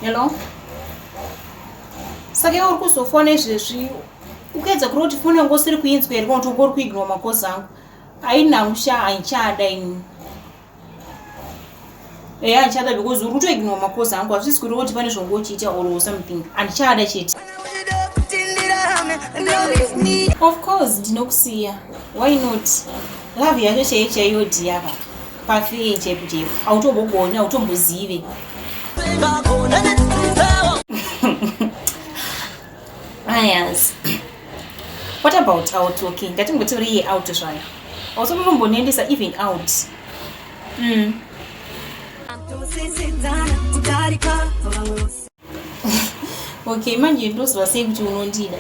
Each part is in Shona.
you know saka iwe uri kuzofona izvezvi ukaedza kuri kuti foni yangu usiri kuinzwa here kuti ungori kuignwa makozi angu haina musha haichada ini eya handichada because uri kutoignwa makozi angu hazvisi kuri kuti pane zvongo uchiita or something handichada chete of course ndinokusiya why not love yacho chaiyo chaiyo dhiyaka Pafi chep chep. Autobogoni, autombozive. Ayas. What about our talking? Ngatimbotori out zvana. Also munombonendesa even out. Mm. okay manje ndozivasei kuti unondida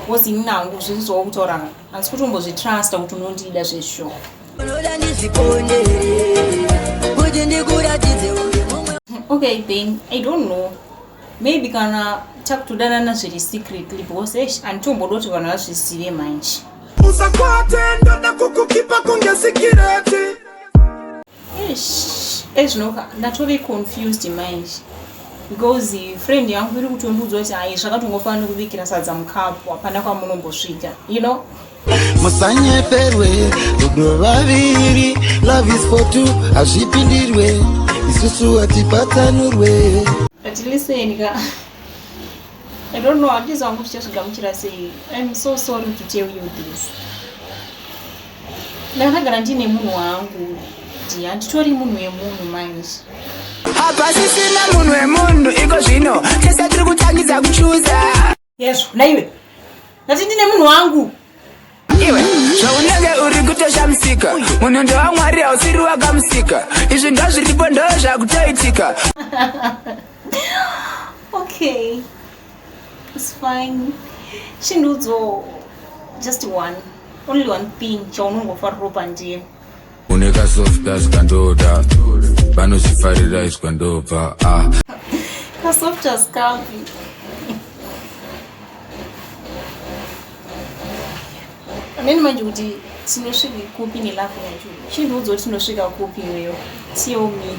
bcause ini nangu zvirizvawo kutaura asi kuti umbozvitrusta kuti unondida zveshow unoda ndizviponde kuti ndikuratidze uri mumwe okay then i don't know maybe kana takutodanana zviri secretly because esh anditomboda kuti vanhu vazvizive manje usakwate ndoda kukukipa kunge sikireti ezvinoka ndatove confused manje because friend yangu iri kutondiudza kuti hai zvakatongofanira nokubikira sadza mukapu hapana kwamunombosvika you know musanyeperwe rudo vaviri love is for two hazvipindirwe isusu hatipatsanurwe but listen ka i don't know handizangu tichazvigamuchira sei i'm so sorry to tell you this ndakagara ndine munhu wangu kuti handitori munhu wemunhu manje hapasisina munhu wemunhu iko zvino tese tiri kutangidza kuchuza yezvo naiwe ndati ndine munhu wangu iwe zvaunenge uri kutoshamisika munhu ndewamwari hausiri wakamusika izvi ndo zviripo ndo zvakutoitika okay It's fine. Chindudzo just one. Only one thing chaunongofarira ropa ndiye. Une ka soft dance kandoda. Vanozifarira iswa ndobva. Ah. Ka soft dance kapi. Neni manje kuti tinosvika kupi nelove yacho. Chindudzo tinosvika kupi iweyo. Tell me.